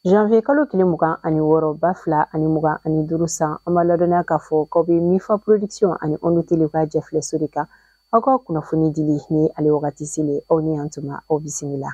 Janvier kalo tile mugan ani wɔɔrɔ ba fila ani mugan ani duuru san an b'a ladɔnniya k'a fɔ k'aw bɛ mifa production ani onu tele ka jɛfilɛso de kan aw ka kunnafoni dili ni ale wagati selen aw ni yan tuma aw bisimila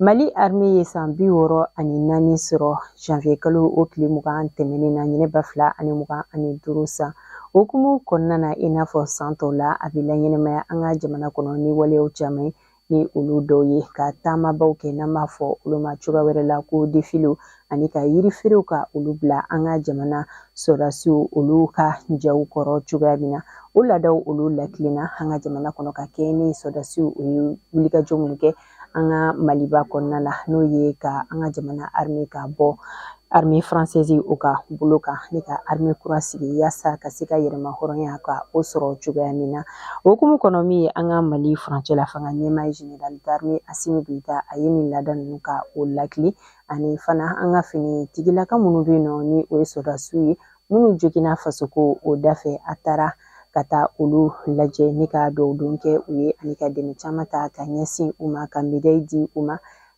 Mali arme ye san bi wɔɔrɔ ani naani sɔrɔ janvier kalo o tile mugan tɛmɛnen na ɲinɛ ba fila ani mugan ani duuru san hukumu kɔnɔna na i n'a fɔ san tɔw la a bɛ laɲɛnɛmaya an ka jamana kɔnɔ ni waleyaw caman ni olu dɔw ye ka taamabaw kɛ n'an b'a fɔ olu ma cogoya wɛrɛ la ko defilew ani ka yirifeerew ka olu bila an ka jamana sɔrɔdasiw olu ka jaw kɔrɔ cogoya min na o laadaw olu latilenna an ka jamana kɔnɔ ka kɛ ni sɔrɔdasiw o ye wulikajɔ minnu kɛ an ka maliba kɔnɔna na n'o ye ka an ka jamana arme ka bɔ arme faransɛzi o ka bolo kan ni ka arme kura sigi yaasa ka se ka yɛrɛmahɔrɔnya ka o sɔrɔ cogoya min na o hukumu kɔnɔ min ye an ka mali furancɛ la fanga ɲɛmaa general d'arme asimi goyita a ye nin laada ninnu ka o lakili ani fana an ka finitigilakaw minnu bɛ yen nɔ ni o ye sɔrɔdasiw ye minnu joginna fasoko o da fɛ a taara ka taa olu lajɛ ni ka dugawu don kɛ u ye ani ka dɛmɛ caman ta ka ɲɛsin u ma ka medayi di u ma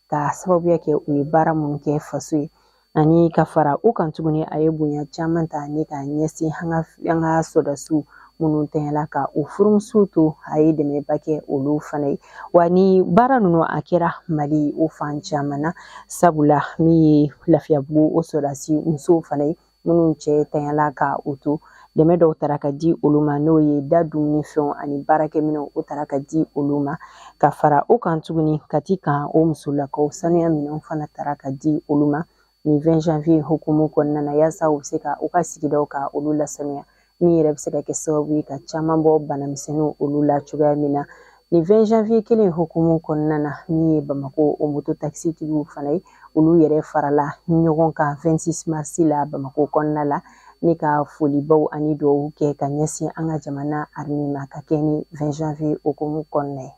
ka sababuya kɛ u ye baara minnu kɛ faso ye ani ka fara u kan tuguni a ye bonya caman ta ni ka ɲɛsin an ka an ka sɔrɔdasiw minnu tɛɲɛla ka u furumusow to a ye dɛmɛba kɛ olu fana ye wa ni baara ninnu a kɛra mali o fan caman na sabula min ye lafiyabugu o sɔrɔdasi musow fana ye minnu cɛ tanyala ka u to dɛmɛ dɔw tara ka di olu ma n'o ye da dumuni fɛnw ani baarakɛminɛnw o tara ka di olu ma ka fara o kan tuguni kati kan o musolakaw sanuya minɛnw fana tara ka di olu ma nin 20 janvier hukumu kɔnɔna na yaasa u bɛ se ka u ka sigidaw ka olu lasanuya min yɛrɛ bɛ se ka kɛ sababu ye ka caman bɔ banamisɛnninw olu la cogoya min na nin 20 janvier kelen hukumu kɔnɔna na min ye bamako o moto takisitigiw fana ye olu yɛrɛ farala ɲɔgɔn kan 26 mars la bamako kɔnɔna la ni ka folibaw ani dugawu kɛ ka ɲɛsin an ka jamana arme ma ka kɛ ni 20 janvier hukumu kɔnɔna ye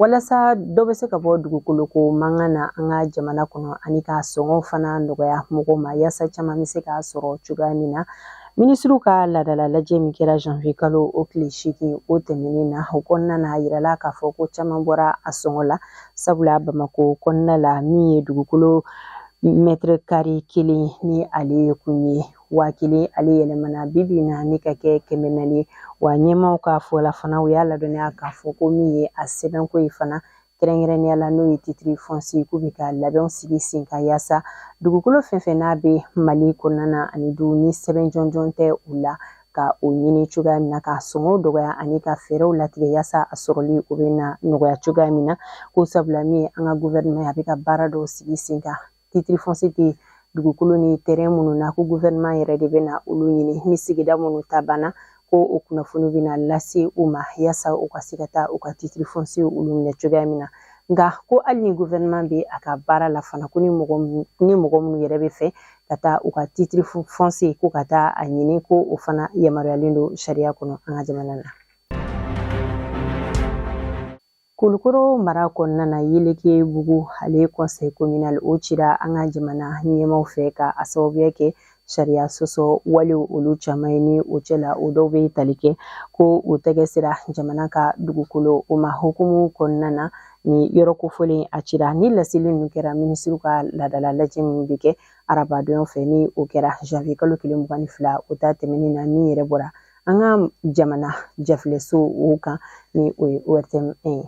Walasa dɔ bɛ se ka bɔ dugukoloko mankan na an ka jamana kɔnɔ ani k'a sɔngɔ fana nɔgɔya mɔgɔw ma yaasa caman bɛ se k'a sɔrɔ cogoya min na minisiriw ka laadala lajɛ min kɛra janvier kalo o tile seegin o tɛmɛnen na o kɔnɔna na a yirala k'a fɔ ko caman bɔra a sɔngɔ la sabula bamako kɔnɔna la min ye dugukolo mɛtɛrɛ kare kelen ni ale ye kun ye waa kelen ale yɛlɛmana bi bi na ni ka kɛ kɛmɛ naani ye wa ɲɛmaaw ka fɔ la fana u y'a ladɔnniya k'a fɔ ko min ye a sɛbɛnko ye fana kɛrɛnkɛrɛnnenya la n'o ye titre foncier k'u bɛ ka labɛnw sigi sen kan yaasa dugukolo fɛn fɛn n'a bɛ Mali kɔnɔna na ani du ni sɛbɛn jɔnjɔn tɛ u la ka o ɲini cogoya min na ka sɔngɔw dɔgɔya ani ka fɛɛrɛw latigɛ yaasa a sɔrɔli o bɛ na nɔgɔya cogoya min na ko sabula min ye an ka gouvernement a bɛ ka baara dɔw sigi sen kan titre foncier tɛ dugukolo ni terrain minnu na ko gouvernement yɛrɛ de bɛna olu ɲini ni sigida minnu ta banna ko o kunnafoni bɛna lase u ma yaasa u ka se ka taa u ka titre foncier olu minɛ cogoya min na nka ko hali ni gouvernement bɛ a ka baara la fana ko ni mɔgɔ minnu yɛrɛ bɛ fɛ ka taa u ka titre foncier ko ka taa a ɲini ko o fana yamaruyalen don sariya kɔnɔ an ka jamana na Kulukoro mara kɔnɔna na Yelekebugu ale conseil communal o cira an ka jamana ɲɛmaw fɛ ka a sababuya kɛ sariya sɔsɔ wale olu caman ye ni o cɛ la o dɔw bɛ tali kɛ ko o tɛgɛ sera jamana ka dugukolo o ma hukumu kɔnɔna na ni yɔrɔ kofɔlen a cira ni laseli ninnu kɛra minisiriw ka laadala lajɛ min bɛ kɛ arabadon fɛ ni o kɛra janvier kalo tile mugan ni fila o ta tɛmɛnen na min yɛrɛ bɔra an ka jamana jafilɛso o kan ni o ye ORTM un ye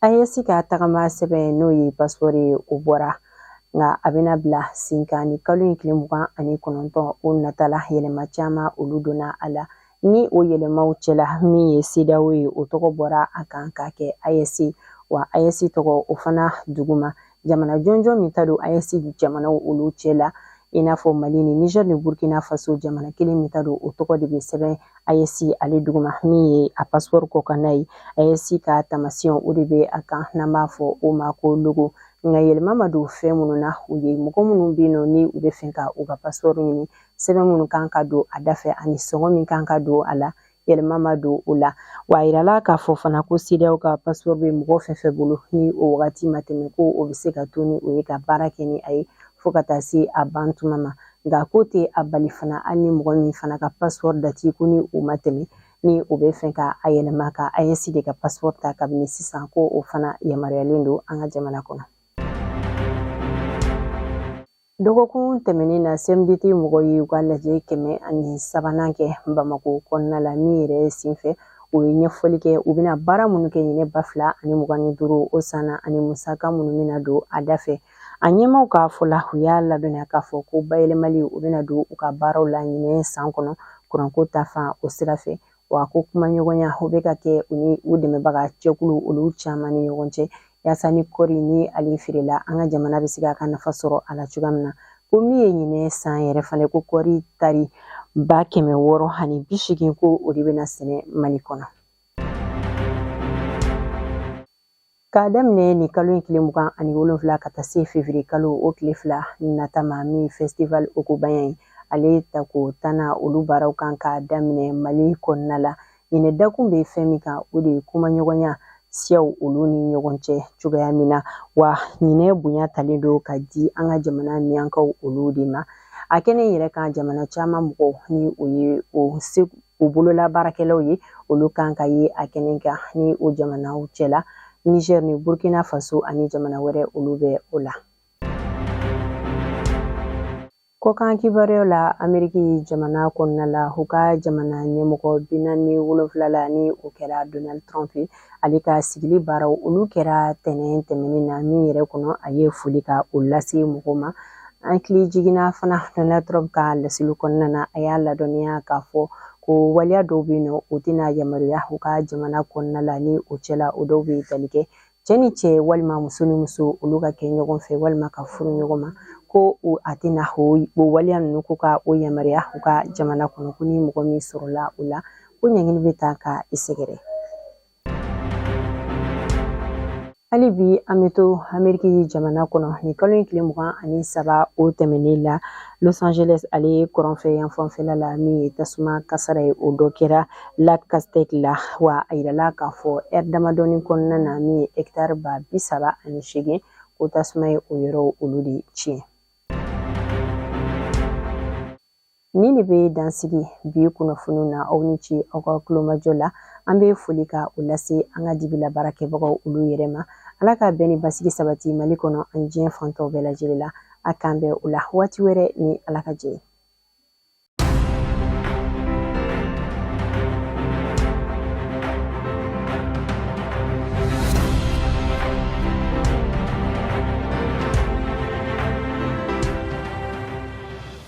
AES ka tagama sɛbɛn n'o ye passeport ye o bɔra nka a bɛna bila sen kan ni kalo in tile mugan ani kɔnɔntɔn o nata la yɛlɛma caman olu donna a la ni o yɛlɛmaw cɛla min ye CEDEAO ye o tɔgɔ bɔra a kan k'a kɛ AES wa AES tɔgɔ o fana duguma jamana jɔnjɔn min ta don AES jamanaw olu cɛla i n'a fɔ Mali ni Niger ni Burkina Faso jamana kelen min ta don o tɔgɔ de bɛ sɛbɛn AES ale duguma min ye a passeport kɔkanna ye AES ka tamasiyɛn o de bɛ a kan n'an b'a fɔ o ma ko logo nka yɛlɛma ma don fɛn minnu na u ye mɔgɔ minnu bɛ yen nɔ ni u bɛ fɛ ka u ka passeport ɲini sɛbɛn minnu kan ka don a da fɛ ani sɔngɔ min kan ka don a la yɛlɛma ma don o la wa a yirala k'a fɔ fana ko CEDEAO ka passeport bɛ mɔgɔ fɛn fɛn bolo ni o wagati ma tɛmɛ ko o bɛ se ka to ni o ye ka baara kɛ ni a ye fo ka taa se a ban tuma ma nka k'o tɛ a bali fana hali ni mɔgɔ min fana ka passeport dati ko ni o ma tɛmɛ ni o bɛ fɛ ka a yɛlɛma ka AES de ka passeport ta kabini sisan ko o fana yamaruyalen don an ka jamana kɔnɔ Dɔgɔkun tɛmɛnen na CMDT mɔgɔw ye u ka lajɛ kɛmɛ ani sabanan kɛ Bamako kɔnɔna la min yɛrɛ senfɛ u ye ɲɛfɔli kɛ u bɛna baara minnu kɛ ɲinɛ ba fila ani mugan ni duuru o san na ani musaka minnu bɛna don a da fɛ a ɲɛmaaw ka fɔ la u y'a ladɔnniya k'a fɔ ko bayɛlɛmali u bɛna don u ka baaraw la ɲinɛ san kɔnɔ kuranko ta fan o sira fɛ wa ko kumaɲɔgɔnya o bɛ ka kɛ u ni u dɛmɛbaga jɛkulu olu caman ni ɲɔgɔn cɛ yaasa ni kɔri ni ale feerela an ka jamana bɛ se k'a ka nafa sɔrɔ a la cogoya min na ko min ye ɲinɛ san yɛrɛ fana ko kɔri tari ba kɛmɛ wɔɔrɔ ani bi seegin ko o de bɛna sɛnɛ mali kɔnɔ K'a daminɛ nin kalo in tile mugan ani wolonwula ka taa se fevrier kalo o tile fila nata ma min festival ogobagna ye ale tako tannan olu baaraw kan ka daminɛ mali kɔnɔna la ɲinɛ dakun bɛ fɛn min kan o de ye kumaɲɔgɔnya siyaw olu ni ɲɔgɔn cɛ cogoya min na wa ɲinɛ bonya talen don ka di an ka jamana miyankaw olu de ma a kɛnɛ yɛrɛ kan jamana caman mɔgɔw ni o ye o bololabaarakɛlaw ye olu kan ka ye a kɛnɛ kan ni o jamanaw cɛla niger ni burkina faso ani jamana wɛrɛ olu bɛ o la kɔkan kibaruyaw la ameriki jamana kɔnɔna la u ka jamana ɲɛmɔgɔ binaani wolonfila la ni o kɛra donald trump ye ale ka sigili baaraw olu kɛra tɛnɛn tɛmɛnen na min yɛrɛ kɔnɔ a ye foli ka o lase mɔgɔw ma an hakili jiginna fana donald trump ka laseli kɔnɔna na a y'a ladɔnniya k'a fɔ ko waleya dɔw bɛ yen ni o tɛna yamaruya u ka jamana kɔnɔna la ni o cɛla o dɔw bɛ tali kɛ cɛ ni cɛ walima muso ni muso olu ka kɛ ɲɔgɔn fɛ walima ka furu ɲɔgɔn ma ko a tɛna o waleya ninnu ko ka o yamaruya u ka jamana kɔnɔ ko ni mɔgɔ min sɔrɔla o la ko ɲangini bɛ taa ka i sɛgɛrɛ hali bi an bɛ to ameriki jamana kɔnɔ nin kalo in tile mugan ani saba o tɛmɛnen la los angeles ale ye kɔrɔnfɛ yanfanfɛla la min ye tasuma kasaara ye o dɔ kɛra lac castaic la wa a yirala k'a fɔ ɛri damadɔni kɔnɔna na min ye hɛktari ba bi saba ani seegin ko tasuma ye o yɔrɔw olu de tiɲɛ Nin de bɛ dansigi bi kunnafoni na aw ni ce aw ka tulomajɔ la an bɛ foli ka o lase an ka dibila baarakɛbagaw olu yɛrɛ ma ala ka bɛn ni basigi sabati mali kɔnɔ ani diɲɛ fan tɔw bɛɛ lajɛlen la a k'an bɛn o la waati wɛrɛ ni ala ka jɛ